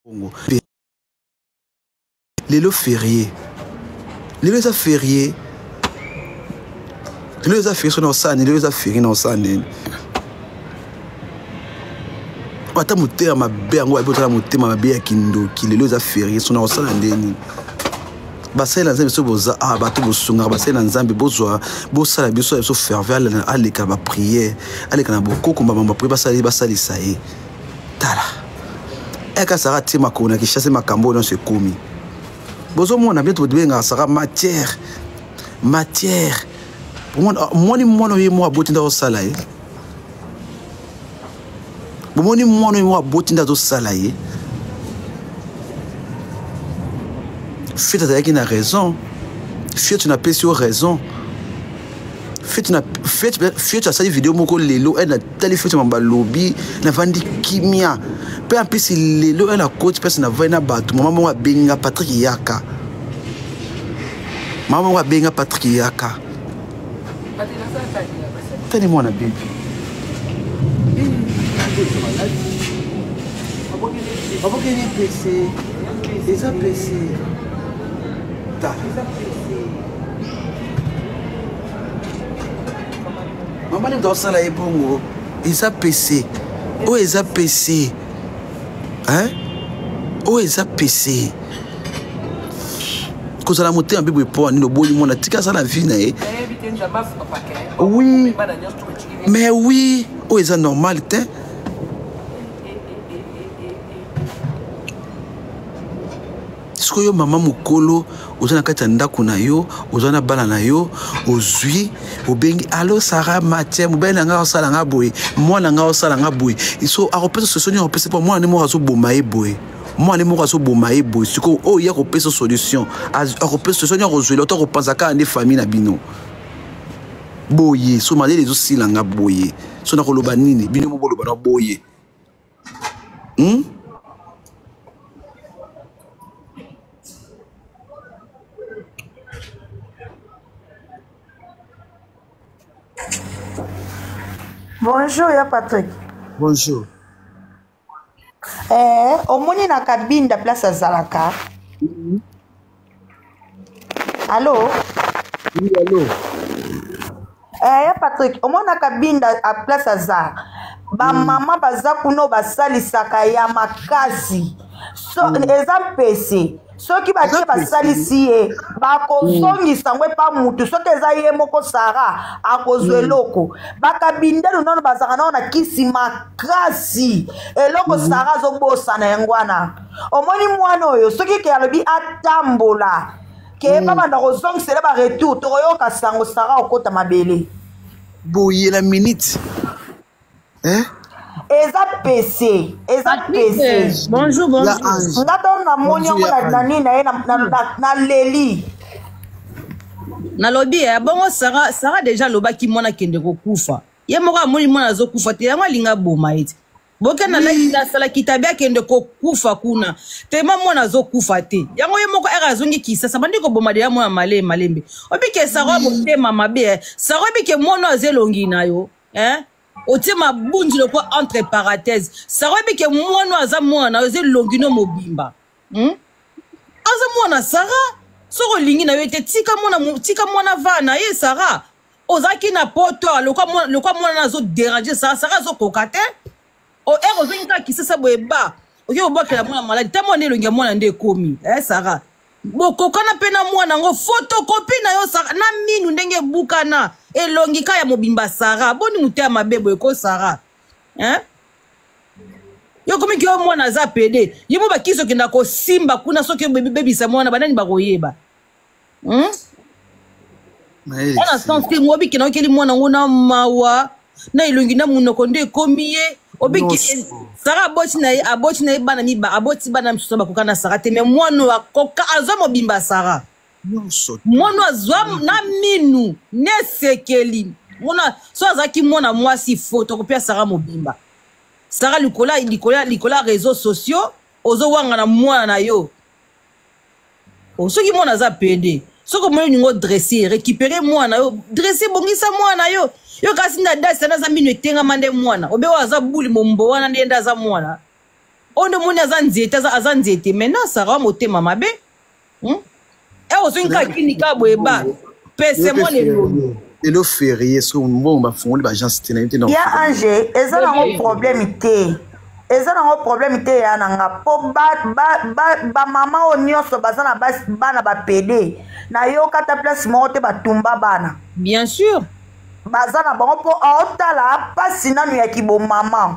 Congo. Lelo férié. Lelo eza férié. Lelo eza férié sur Sani, lelo eza férié na Sani. Ata motema mabe yango ayebi otala motema mabe ya kindoki lelo eza férié sur Sani ndeni. basali na nzambe so boza ah, bato bosungaka basali na nzambe bozwa bosala biso ya biso ferve aleka na bapriere aleka na bokoko mbamba bapriere basali basalisa ye tala eka saka tie makolo na kishase makambo oyo nyonso ekomi bozomona bino tobengaka saka matière matière omoni mwana oye mwa aboti nda osala ye bomoni mwana oyo moko aboti nde azosala ye fete azalaki na raison fete napesi yo raison fete asali video moko lelo ena tali fete ma balobi navandi kimia mpe ampesi lelo ena koti mpasi navai na bato mama moko abenga patrik yaka mama moko abenga patrik yaka tani mwana bibi abokeli pese eza pese ta mama nde tosala ye bongo eza pese oyo eza pese oyo eza pese kozala motema mpe boye mpo nini oboyi mwana tika aza na vie na ye oui mais oui oyo eza normal te sikoyo mama mokolo oza na kati ya ndako na yo oza na bana na yo ozwi obengi alo sara matie mobali na ngai osala ngai boye mwana ngai osala ngai boye so akopesa sosoni akopesa mpo mwana nde moko azoboma ye boye mwana moko azoboma ye boye sikoyo oyo ye akopesa solution akopesa solution nio akozwela to akopanza kaka nde famille na bino boye so malele ezosila nga boye so nakoloba nini bino mo boloba na boye hmm? bonjour ya patrick bonjour eh, omoni na kabinda place azalaka mm-hmm. alo oui, alo eh, ya patrik omoni na kabinda a place aza bamama mm. baza kuna basalisaka ya makasi so mm. eza mpese soki batie basalisi ye bakozongisa yango epa mutu soki eza ye moko sara akozwa mm. eloko bakabindelu nano bazalaka nao na kisi makasi eloko mm. sara azobosana yango wana omoni mwana oyo soki ke alobi atambola ke mm. babanda kozongisele baretour tokoyoka sango sara okota mabele boye na minute eh? eza pese eza pese nga to namoni yango na nini na ye naleli nalobi ya eh, bongo sara sara deja alobaki mwana akende kokufa ye moko amoni mwana azokufa te yango alingi aboma ye te bokenda lakita asalaki tabi akende kokufa kuna tema mwana azokufa te yango ye moko ere azongi kisasa bandi koboma deya mwana male malembe obike sara motema mabe eh. sara obike mwana aza elongi na yo hein otie mabunzi lokola entre parenthèse sara oyebi ke mwana oyo aza mwana na yo eza elongi no mobimba hmm? aza mwana sara soki olingi na yo te tika mwana tika mwana va na ye sara ozalaki na poto lokola mwana azoderange sara sara azokoka te o oh, eko eh, ozongi kaka kisasa boye ba oke kobwakela mwana maladi ta mwana elongi ya mwana nde ekomi e eh, sara bokokana mpe na mwana yango fotokopi na yo sara na minu ndenge ebukana elongi ka ya mobimba sara boni moto ya mabe boye ko sara eh? yo komi ke yo mwana aza pede ye mo bakisi okenda kosimba kuna soki obebisa mwana banani bakoyeba hmm? wana sens te ngo obikela okeli mwana ngo na mawa na elongi na monoko nde ekomi ye obiki sara aboti na ye aboti na ye bana miba aboti bana misusu bakoka na sara te me mwana oyo akoka azwa mobimba sara mwana oyo azwa na minu nesekeli mwana so azalaki mwana mwasi fo tokopia sara mobimba sara likolo likolo likolo ya réseau sociaux ozowangana mwana na yo Oh, soki mwana aza pede soki omoni olingi odresse récupere mwana yo dresse bongisa mwana yo yo kasi nde adasi ana aza mino etengama nde mwana obe oyo aza buli mombo wana nde nde aza mwana oyo nde omoni aza nzete aza nzete maintenant sara wa motema mabe hmm? e eh, ozongi kaka kini kaka boye ba pese mwana elongi lelo ferie so mbongo bafungoli baagence te nayebi te ya ange eza nango problème te eza nango problème te ya na nga mpo bamama oyo nyonso baza na bana bapede nayoka ata place moko te batumba bana bien sûr baza na bango mpo aotala mpasi nanu ya kibomama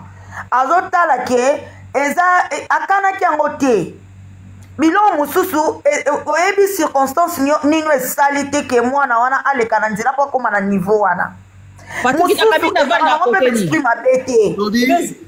azotala ke eza e, akanaki yango te biloko mosusu e, e, oyebi circonstance nino esali te ke mwana wana aleka na nzela mpo akóma na niveau wana mosusu ezalaka yango mpe esprit mabe te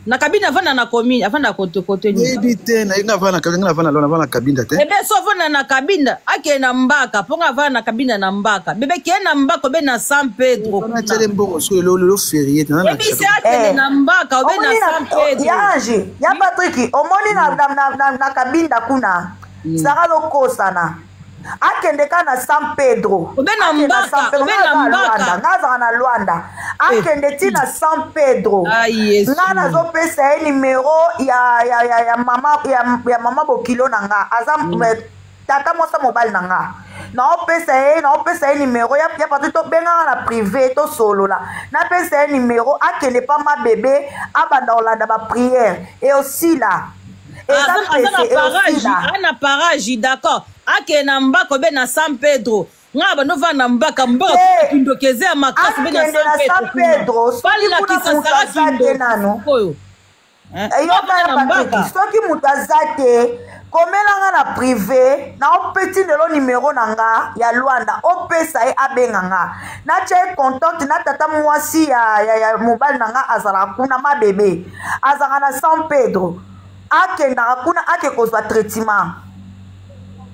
na kabine avanda na commune avanda kote kote nini yebi te na nga avanda na kabine nga avanda lona avanda na kabine te ebe so avanda na kabine ake na mbaka po nga avanda na kabine na mbaka bebe ke na mbaka be na San Pedro na tele mbongo so lo lo ferie na na ebe se ake na mbaka be na San Pedro ya ange ya Patrick omoni na na na kabine kuna sara lokosana akende kaka na san pedro obe na mbaka obe na mbaka nga azaka na lwanda eh. akende ti na san pedro ah, nga nazopesa ye nimero ya, ya, ya, ya, mama, ya, ya mama bokilo na nga aza mm. Eh, tata mwasa mobali na nga naopesa ye naopesa ye nimero ya, ya patu tobengaka na prive tosolola napesa ye nimero akende pa mabebe abanda kolanda bapriere eosila ana paraji d'accord akee na mbako be na san pedro nga bando vanda mbaka mbaka eh, kindoki eza ya makasi be na san pedro balakisa sara kindoki oyo eh, eh, soki moto aza te komela nga na prive na opeti lelo nimero na nga ya lwanda opesa ye abenga nga natya ye contacte na tata mwasi ya, ya, ya mobali na nga azalaka kuna mabebe azalaka na san pedro akendaka kuna ake kozwa traitement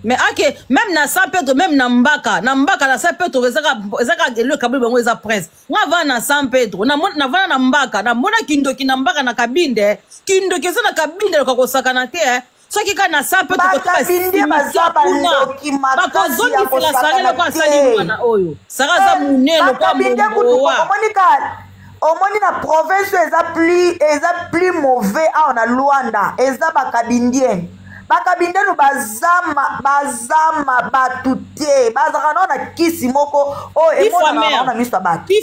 mais ake meme na san pedro meme na mbaka na mbaka na san pedro ezaka eloko ekaboli bango eza prince nga vana na san pedro navana na mbaka namona kindoki na mbaka na kabinde kindoki eza na kabinde loka kosakana te eh. soki kaka na sa mpe tokotobakozongisela sara loko asali mwana oyo sara aza monene lokola momowa omoni na province oyo eza plus eza plus mauvais awa na luanda eza bakabindiene bakabindienu bazama bazama bato te bazalaka nao na kisi moko oyo emonanaa na miso ya bato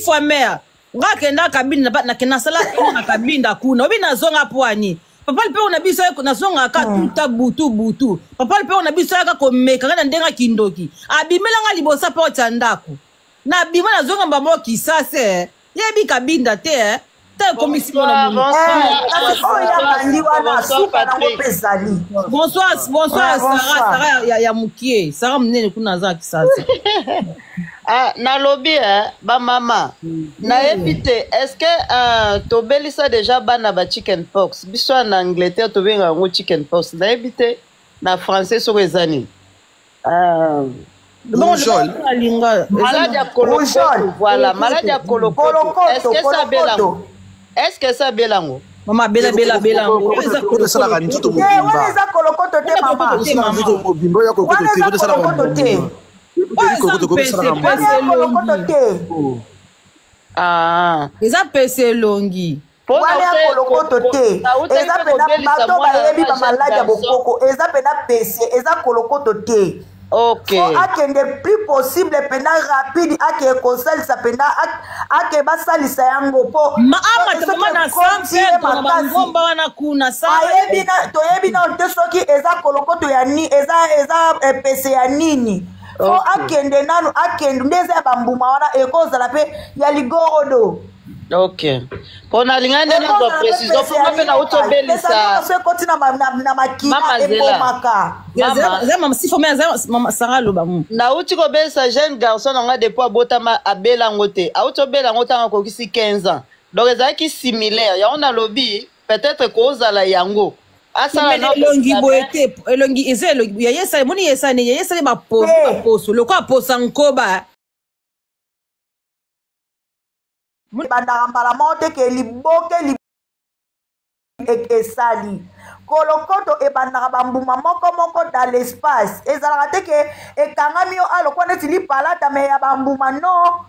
nga kenda kabinda nasala na kabinda kuna obi nazonga pwani papa lipeo na biso nazongaka ah. tuta butu butu papa lipeo na biso ayaka komeka nga na ndenge kindoki abimela nga liboso porte ya ndako nabima nazonga mbamo kisase yebi kabinda te eh. te ekomisi mona oyo abandi wana suka nango mpe ezali bonsoir bonsoir sara sara ya mokie sara monene kuna aza kisase Ah, nalobi eh, bamama mm. nayebi te estce uh, tobelisa deja bana ba chicken pox biso ya na angleterre tobenga yango chicken pox nayebi te na français soko eza nini ah. maladi ya kolokoto voilà maladi ya kolokoto estce esa belango estce esa belango mama bela bela bela yango eza kolokotoesalaka nzoto mobimba wana eza kolokoto te mama wana eza kolokoto te Ah. eza pese elongi wana ya kolokoto te eza pena bato bayebi bamaladi ya bokoko eza pena pese eza kolokoto te okay. akende plus possible pena rapide akeye kosalisa pena ake basalisa yango po maamaamatamanasambangomba wana kuna ayebi toyebi nano te soki eza kolokoto ya nini eza eza epese ya nini fo okay. akende nanu akende nde eza ya bambuma wana ekozala mpe ya ligorodo okay mpo nalingai nde nazwa precision mpo nga mpe nauti obelisa ekoti na makila ebomaka sara aloba mu nauti kobelisa jeune garçon na ngai depuis abotama abela yango te auti obela yango ntango akokisi 15 ans donc ezalaki similaire yango nalobi peut-être kozala yango elongi boye te elongi eza elongi yayesali emoni yesani yayesali baposo lokola posa nkoba ebandaka mbala moko te ke liboke li esali kolokoto ebandaka bambuma moko moko dans l'espace ezalaka te ke ekangami yo alokwa ah, neti lipalata me ya bambuma no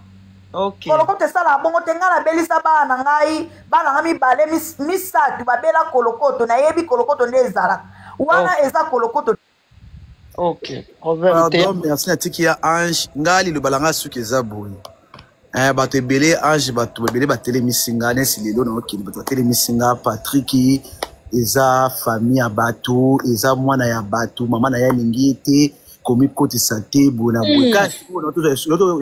okay. kolokoto esalaka bongo te ngai nabelisa bana na ngai bana ngai mibale misato babela kolokoto nayebi kolokoto nde ezalaka wana okay. eza kolokoto ok problème te pardon merci natiki ya ange ngai liloba na ngai suki eza boye eh, bato ebele ange bato ebele batelemisi nga nesi lelo naokende bato batelemisi nga patriki eza famille ya bato eza mwana ya bato mama na ye alingi ye te komikotisa te boye na boye kasi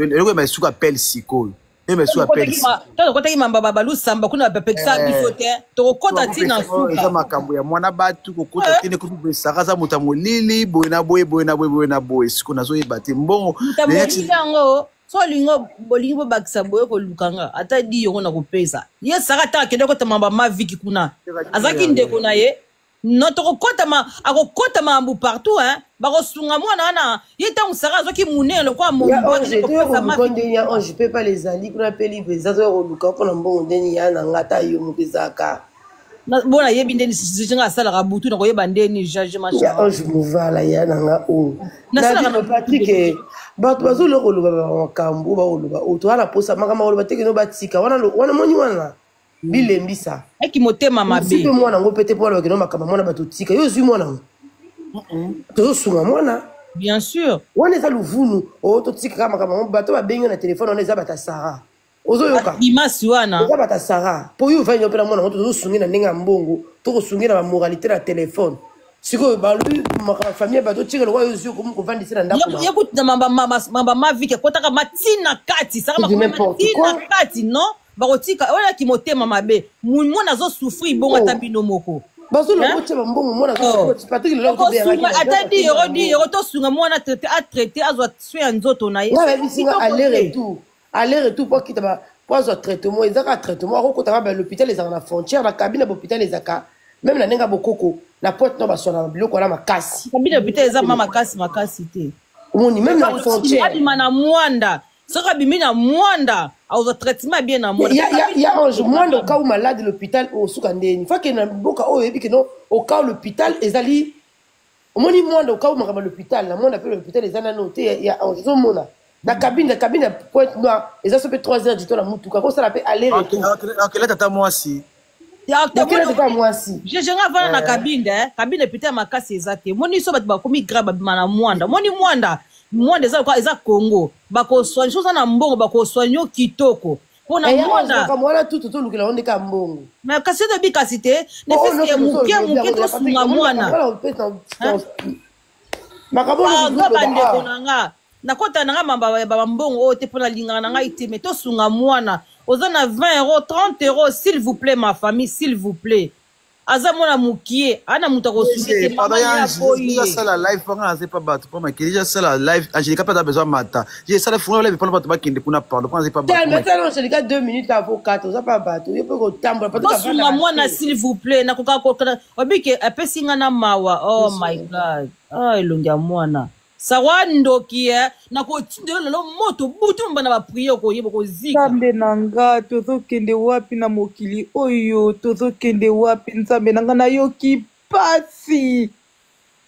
eloko ya masuka pele sikoyo Meme sur la pelle. Toko kota ki mamba babalu samba kuna ba pekisa eh. biso te. Toko kota ti na suka. Eza makambo ya mwana batu ko kota eh. ti ne ko bi saka za muta molili boye na boye boye na boye boye na boye. Siko nazo yeba te mbongo. Muta molili yango so olingi bolingi bobakisa boye koluka nga ata di yongo na kopesa ye saka ata akende kotama bamaviki kuna azalaki ndeko na ye non tokokotama akokota makambo partout hein bakosunga mwana wana ye ntango sara azwaki monene lokola mondenge ya ange mpe pale ezali kuna mpe libre eza zoya koluka mpo na mbongo ndeni ya na nga ata yo moko ezalaka bo nayebi ndeni sisi nga asalaka butu na koyeba ndeni jugement ya ange movala ya na nga oyo nasalakapatike bato bazoloka koloba makambo bakoloba oyo towana posa makambo bakoloba tekeno batika wana moni wana bilembisa eki motema mabe mwana yango mpe te mpo alobakeno makambo mwana bato tika yo ozwi mwana yango tozosunga mwana bien sûr wana eza luvunu o oh, totikaka makambo yango bato babengi na telefone wana eza bata sara ozoyoka imasi wana eza bata sara mpo yo ovandi opela mwana yango tozosungi na ndenge ya mbongo tokosungi na bamoralité na telefone sikoyo balobi makambo famille bato tika lokola yo ozwi okomi kovandisi na ndako yekutina mamba mavike ekotaka matina kati saka matina kati non bakotika wana kimotema mabe mwana azo souffrir bongo ata oh. bino moko okosunga ata di euro di euro tosunga mwana atraite azwa soin ya nzoto na ye aller retour mpo akita mpo azwa traitement eza kaka traitement akokota kaka balhôpital ezalaka na frontière na kabine ya bahôpital ezalaka meme na ndenge ya bokoko na pointe no baswana na biloko wana makasi kabine ya hôpital eza ma makasi makasi te omoni meme na frontière abima na mwanda soki abimi na mwanda akozwa traitement bien na mwandayange mwanda okau malade l'hôpital osuka ndeni fake na mboka oyo oyebi keno okau l'hôpital ezali omoni mwanda okau makambo l'hôpital na mwanda mpe l'hôpital eza nano te ya ange ozomona na kabine kabine ya pointe noire eza so mpe 3 heures du temps na motuka kosala mpe aller retour akela tata mwasi jejenga avanda na kabinde eh. kabinde pita ya makasi eza te moni so bato bakomi grave babima na mwanda moni mwanda mwanda eza lokola eza congo bakoswanye soza na mbongo bakoswanye yo kitoko mpona eh, mwandawana tutu tolukela yo nde ka mbongo me kasi toyebi kasi te oh, nefiske moke moke tosunga mwana baza bandeko na nga nakota na nga mamba ya bambongo oyo te mpo nalingaka na ngai te me tosunga mwana oza na 20 euro 30 euro s'il vous plaît ma famille s'il vous plaît aza mwana mokie ana moto akosukiasala live panga aze pa bato mpo makili je asala live angelica mpe aza besoin mata je esala fungola live mpona bato bakende kuna pardon mpo aze pa batoangelica deux minutes avocat oza pa bato yo mpe kotambola bosunga mwana s'il vous plaît nakokaka obike apesi nga na mawa oh my god ah elongi ya mwana sarwa ndoki e nakotinda yo lelo moto butu mba na bapriye okoyeba okozika nzambe na nga tozokende wapi na mokili oyo tozokende wapi nzambe na nga nayoki pasi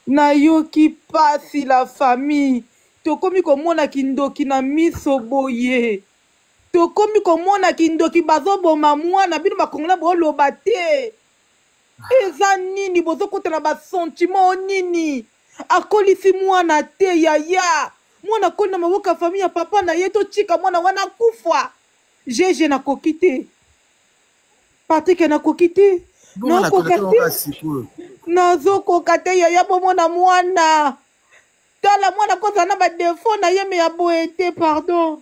nayoki pasi la famille tokomi komona kindoki na miso boye tokomi komona kindoki bazoboma mwana bino bakongola boloba te eza nini bozokota na basentiment o nini akolisi mwana te yaya mwana akoli na maboko ya famille ya papa na ye totika mwana wana akufa jeje nakoki te patrik nakoki te nakoka te nazokoka te yaya bomona mwana tala mwana kozala na badefo na ye me ya boye te pardon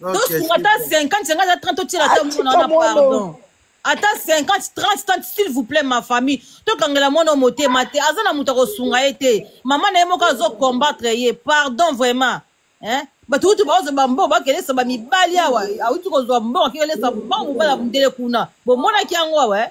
tosunga ata 50 senga aza 30 otiela ata mwana wana pardon ata 50 30 30 s'il vous plaît ma famille tokangela mwana motema te aza na moto akosunga ye te mama na ye moko azokombattre ye pardon vraiment hein? bato kutu baozo bambongo bakelesa bamibali awa awuti kozwa mbongo akekelesa mbongo mobala mundele kuna bomonaki yango awa eh?